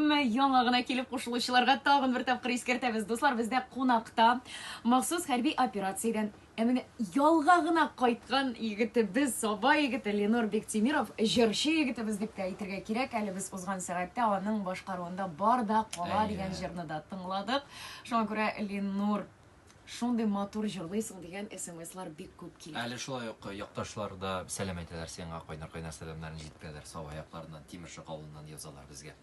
Әмма яңа гына килеп кушылучыларга тагын бер тапкыр искәртәбез, дуслар, бездә кунакта махсус хәрби операциядән ә менә ялга гына кайткан егетебез, Саба егете Ленор Бектимиров, җырчы егетебез дип тә әйтергә кирәк. Әле без узган сәгатьтә аның башкаруында Бар да кала дигән җырны да тыңладык. Шуңа күрә Ленор Шундый матур җырлыйсың дигән смслар бик күп килә. Әле шулай ук якташлар да сәлам әйтәләр сиңа, кайнар-кайнар сәламнәрен җиткерәләр Саба якларыннан, Тимершык авылыннан язалар безгә.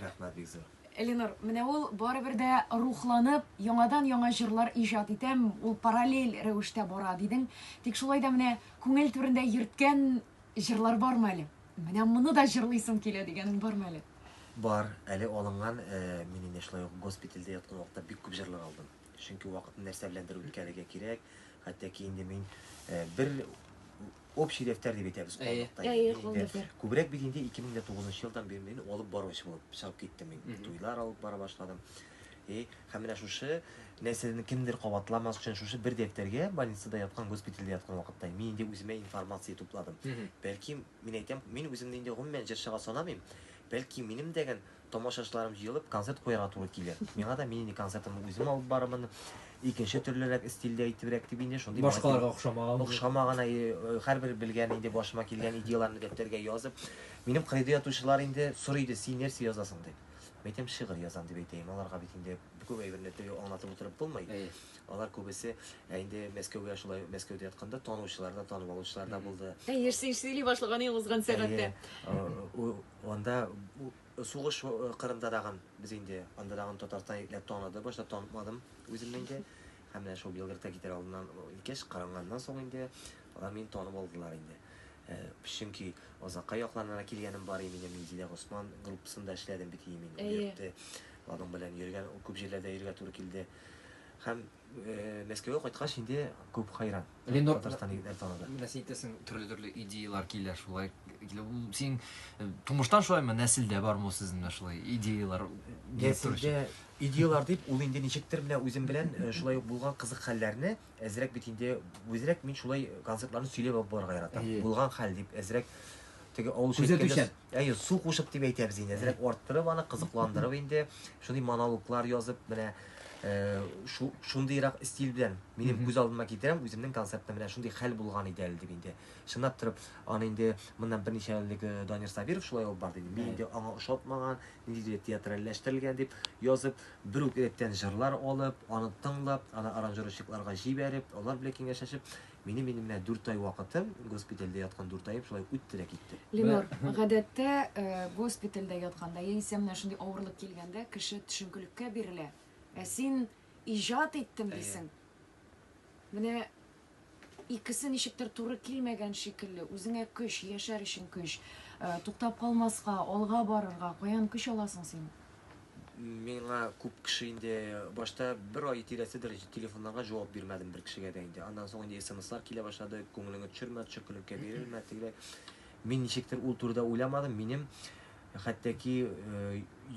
Рәхмәт бик зур. Элинур, менә ул барыбер дә рухланып, яңадан-яңа җырлар иҗат итәм, ул параллель рәвештә бара, дидең. Тик шулай да менә күңел түрендә йөрткән җырлар бармы әле? Менә моны да җырлыйсым килә дигәнең бармы әле? Бар, әле алынган, э, мин инде шулай ук госпитальдә яткан вакытта бик күп җырлар алдым. Чөнки вакытны нәрсә беләндер үткәрергә кирәк. Хәтта ки инде мин э, бер общий дәфтәр дип әйтәбез Әйе. калдыкта. Әйе, инде. калын дәфтәр. Күбрәк бит инде 2009 елдан бер мин алып баручы булып чыгып киттем мин. Мгм. Туйлар алып бара башладым. И һәм менә шушы нәрсәне кемдер кабатламас өчен шушы бер дәфтәргә больницада яткан госпитальдә яткан вакытта мин инде үземә информация тупладым. Мгм. Бәлки Мин әйтәм, мин үземне инде гомумән җырчыга санамыйм. Бәлки, минем дә гел тамашачыларым җыелып, концерт куярга туры килер. Миңа да мин инде концертымны үзем алып барырмын, икенче төрлерәк стильдә итебрәк дип инде шундый миңа килгән, охшамаган, әйе, һәрбер белгән инде башыма килгән идеяларны дәфтәргә язып, минем кырыйда ятучылар инде сорый иде, син нәрсә язасың дип. Мин әйтәм, шигырь язам дип әйтәем, аларга бит инде күп әйберне төгәл аңлатып утырып булмый. Алар күбесе инде Мәскәүгә шулай Мәскәүдә ятканда танучылар да, танып алучылар да булды. Әйе, син сөйли башлаганың узган сәгатьтә. Анда сугыш кырында дагын без инде анда дагын Татарстан итләп таныды, башта танытмадым үземне инде. Һәм менә шул Белградка китәр алдыннан икеш каранганнан соң инде алар мине танып алдылар инде. Чөнки Озакка якланына килгәнем бар иде минем Минзилә Госман группасында эшләдем бит мин. Әйе. Аның белән йөргән күп җирләрдә йөргә туры килде. Һәм Мәскәүгә кайткач инде күп хайран. Ленор Татарстан егетләр танады. Менә син әйтәсең, төрле-төрле идеялар килә шулай. Син тумыштан шулаймы, нәселдә бармы сезнең дә шулай идеялар? Нәселдә идеялар дип, ул инде ничектер менә үзем белән шулай ук булган кызык хәлләрне Әзрәк бит инде, үзрәк мин шулай концертларны сөйләп алып барырга яратам. Әйе. Булган хәл дип әзрәк теге авыл Күзәтүчән. Әйе, су кушып дип әйтәбез инде. Әзрәк арттырып аны кызыкландырып инде шундый монологлар язып менә э, шу- шундыйрак стиль белән минем Мгм. күз алдыма китерәм, үземнең концертта менә шундый хәл булган иде әле дип инде. Чынлап торып, аны инде моннан берничә ел элек э, Данир Сабиров шулай алып барды иде. Мин Әйе. инде аңа ошатмаган, ниндидер театральләштерелгән дип язып, бер үк рәттән җырлар алып, аны тыңлап, аны аранжировщикларга җибәреп, алар белән киңәшләшеп, минем инде менә дүрт ай вакытым, госпитальдә яткан дүрт аем шулай үтте дә китте. Ленор, гадәттә, э, госпитальдә ятканда яисә менә шундый авырлык килгәндә кеше төшенкелеккә бирелә, ә син иҗат иттем дисең. Менә Икесе ничектер туры килмәгән шикелле. Үзеңә көч, яшәр өчен көч, туктап калмаска, алга барырга каян көч аласың син? Миңа күп кеше инде башта бер ай тирәседер телефоннарга җавап бирмәдем бер кешегә дә инде. Аннан соң инде смслар килә башлады, күңелеңне төшермә, төшеккелеккә бирелмә, тегеләй. Мин ничектер ул турыда уйламадым. Минем хәтта ки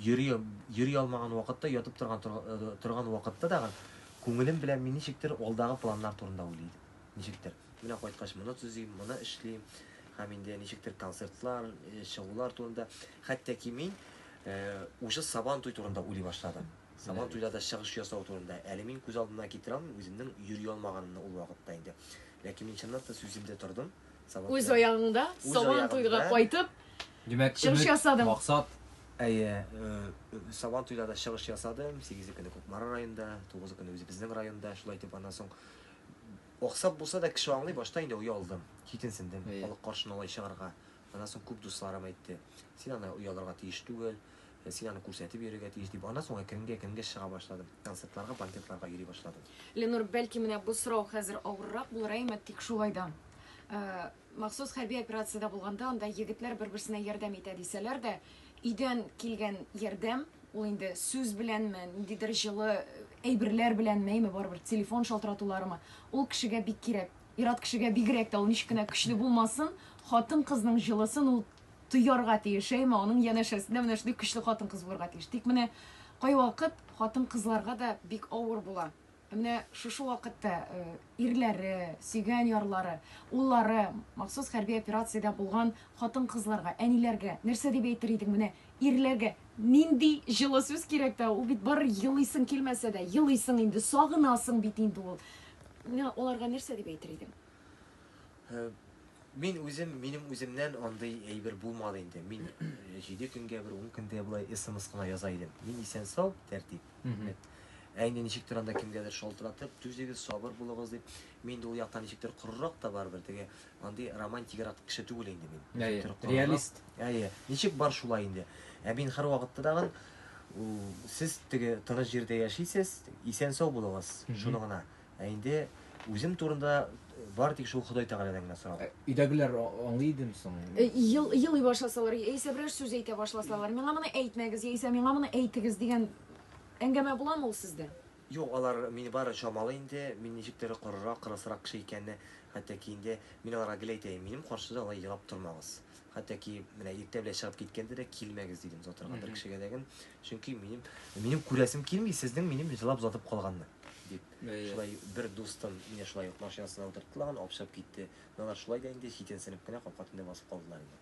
йөри йөри алмаган вакытта, ятып торган торган вакытта да Күңелем белән мин ничектер алдагы планнар турында уйлый идем. Ничектер. Менә кайткач моны төзим, моны эшлим. Һәм инде ничектер концертлар, чыгулар турында. Хәтта ки мин уже Сабан туй турында уйлый башладым. Сабан туйларда чыгыш ясау турында. Әле мин күз алдына китерә алмыйм үземнең йөри алмаганымны ул вакытта инде. Ләкин мин чынлап та сүземдә тордым. Сабан Үз аягыңда Сабан туйга кайтып, Димәк, Чыгыш өмет, ясадың. максат. Әйе, э, э, Сабан туйда да чыгыш ясадым. Сигезе көне Кукмара районында, тугызы көне үзебезнең районда. Шулай итеп, аннан соң аксап булса да кеше аңлый, башта инде оялдым, читенсендем, Әйе. халык каршына алай чыгарга. Аннан соң күп дусларым әйтте, син аны оялырга тиеш түгел, э, син аны күрсәтеп йөрергә тиеш дип. Аннан соң әкренге-әкренге чыга башладым. Концертларга, банкетларга йөри башладым. Ленур, бәлки менә бу сорау хәзер авыррак булыр, әймә, тик шулай да. Э, Махсус хәрби операциядә булганда анда егетләр бер-берсенә ярдәм итә дисәләр дә, өйдән килгән ярдәм, ул инде сүз беләнме, ниндидер җылы әйберләр беләнме, әйме, барыбер телефон шалтыратуларымы, ул кешегә бик кирәк. Ир-ат кешегә бигрәк тә, ул ничек кенә көчле булмасын, хатын-кызның җылысын ул тоярга тиеш, әйме, аның янәшәсендә менә шундый көчле хатын-кыз булырга тиеш. Тик менә кайвакыт хатын-кызларга да бик авыр була. Ә менә шушы вакытта ирләре, сөйгән ярлары, уллары махсус хәрби операциядә булган хатын-кызларга, әниләргә нәрсә дип әйтер идең? Менә ирләргә нинди җылы сүз кирәк тә, ул бит бары елыйсың килмәсә дә, елыйсың инде, сагынасың бит инде ул. Менә аларга нәрсә дип әйтер идең? Мин үзем, минем үземнән андый әйбер булмады инде. Мин җиде көнгә бер, ун көнгә болай смс кына яза идем. Мин исән сау, тәртип. Ә инде ничектер анда кемгәдер шалтыратып, түзегез, сабыр булыгыз дип, мин ул яктан ничектер корырак та барыбер, теге андый романтигарак кеше түгел инде мин. Әйе, реалист. Әйе, ничек бар шулай инде. Ә мин һәр вакытта тагын сез теге тыныч җирдә яшисез, исән сау булыгыз, шуны гына. Ә инде үзем турында бар тик шул Ходай Тәгаләдән генә сорау. Ә, өйдәгеләр аңлый идеме соң? Э, ел, елый башласалар, яисә берәр сүз әйтә башласалар, миңа моны әйтмәгез, яисә миңа моны әйтегез дигән әңгәмә буламы ул сездә? Юк, алар мине бары чамалый инде, мин ничектер корырак, кырысрак кеше икәнне, хәтта ки инде мин аларга гел әйтәем, минем каршыда алай елап тормагыз. Хәтта ки менә иртә белән чыгып киткәндә дә килмәгез дидем озатырга бер кешегә дәгем. Чөнки минем минем күрәсем килми сезнең минем җылап озатып калганны дип. Шулай бер дустым мине шулай ук машинасына утыртты лаган, алып чыгып китте. Алар шулай да инде читенсенеп кенә капка төбендә басып калдылар инде.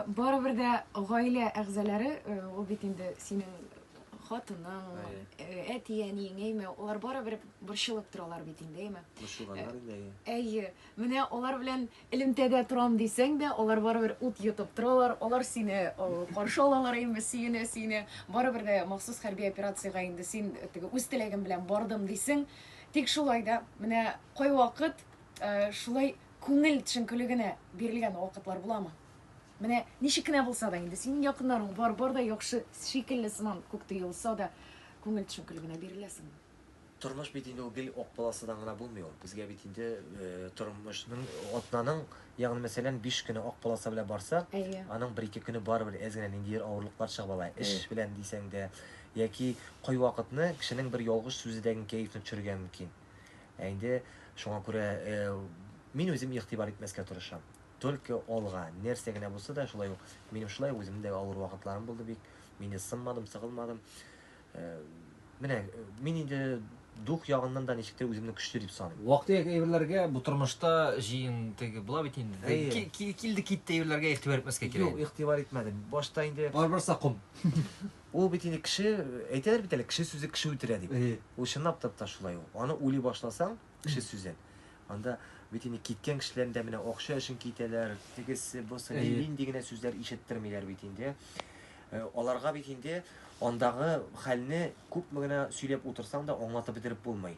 Барыбер дә гаилә әгъзалары, ул бит инде синең хатының, әти-әниең, әйме, алар барыбер борчылып торалар бит инде, әйме? Борчылганнар инде, әйе. Әйе. Менә алар белән элемтәдә торам дисәң дә, алар барыбер ут йотып торалар, алар сине каршы алалар инде, сөенә, сөенә. Барыбер дә махсус хәрби операциягә инде син теге үз теләгем белән бардым дисең. Тик шулай да, менә кайвакыт шулай күңел төшенкелегенә бирелгән вакытлар буламы? Менә ничек кенә булса да инде синең якыннарың бар, бар да яхшы шикелле сыман күк тоелса да, күңел төшенкелегенә биреләсеңме? Тормыш бит инде ул гел ак полосадан гына булмый ул. Безгә бит инде тормышның атнаның, ягъни мәсәлән, 5 көне ак полоса белән барсак, аның бер-ике көне барыбер әз генә ниндидер авырлыклар чыгып ала. Эш белән дисәң дә, яки кайвакытны кешенең бер ялгыш сүзе дә гел кәефне төшерергә мөмкин. Ә инде шуңа күрә мин үзем игътибар итмәскә тырышам. Только алга, нәрсә генә булса да, шулай ук минем шулай ук үземнең дә авыр вакытларым булды бик. Мин дә сынмадым, сыгылмадым. Э, менә э, мин инде дух ягыннан да ничектер үземне көчле дип саныйм вакыты әйберләргә бу тормышта җыен теге була бит инде килде китте әйберләргә игътибар итмәскә кирәк юк игътибар итмәдем башта инде барыбер сакым ул бит инде кеше әйтәләр бит әле кеше сүзе кеше үтерә дип ул чынлап та шулай ул аны уйлый башласаң Кеше сүзен. Анда бит инде киткән кешеләрне дә менә акча өчен китәләр, тегесе, бусы, Әйе. нинди генә сүзләр ишеттермиләр бит инде. Э, Аларга бит инде андагы хәлне күпме генә сөйләп утырсаң да аңлатып бетереп булмый.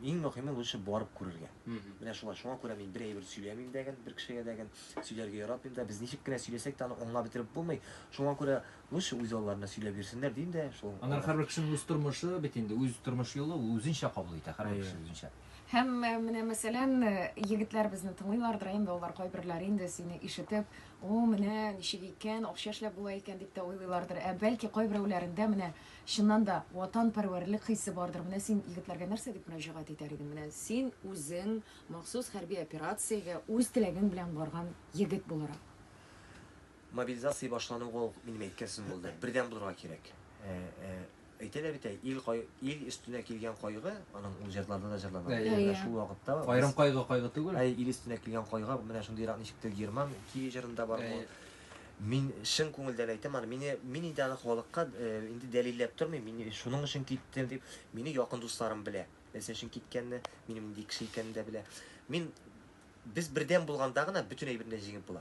Иң мөһиме лучше барып күрергә. Мгм. Менә шулай, шуңа күрә мин бер әйбер сөйләмим дәген, бер кешегә дәген, сөйләргә яратмыйм да. Без ничек кенә сөйләсәк тә аны аңлап бетереп булмый. Шуңа күрә Лучше үзалларына сөйләп йөрсеннәр дим дә шул. Аннары һәрбер кешенең үз тормышы бит инде, үз тормыш юлы, ул үзенчә кабул итә, һәрбер кеше үзенчә. Һәм менә мәсәлән, егетләр безне тыңлыйлардыр инде, алар кайберләре инде сине ишетеп, О, менә ничек икән, акча эшләп була икән, дип тә уйлыйлардыр. Ә бәлки кайберәүләрендә менә чыннан да ватанпәрвәрлек хисе бардыр. Менә син егетләргә нәрсә дип мөрәҗәгать итәр идең? Менә син үзең махсус хәрби операциягә үз теләгең белән барган егет буларак. Мобилизация башлану ул, минем әйткәсем булды, бердәм булырга кирәк. Әйтәләр бит, ил кай, ил өстенә килгән кайгы, аның ул җырларда да җырлана. Әйе. Менә шул вакытта Аерым кайгы кайгы түгел. Әй, ил өстенә килгән кайгы, менә шундыйрак ничектер Герман Киви җырында бар бу. Мин чын күңелдән әйтәм аны, мине, мин инде аны халыкка инде дәлилләп тормыйм, мин шуның өчен киттем дип, мине якын дусларым белә, нәрсә өчен киткәнне, минем нинди кеше икәнне дә белә. Мин, без бердәм булганда гына бөтен әйбер дә җиңеп була.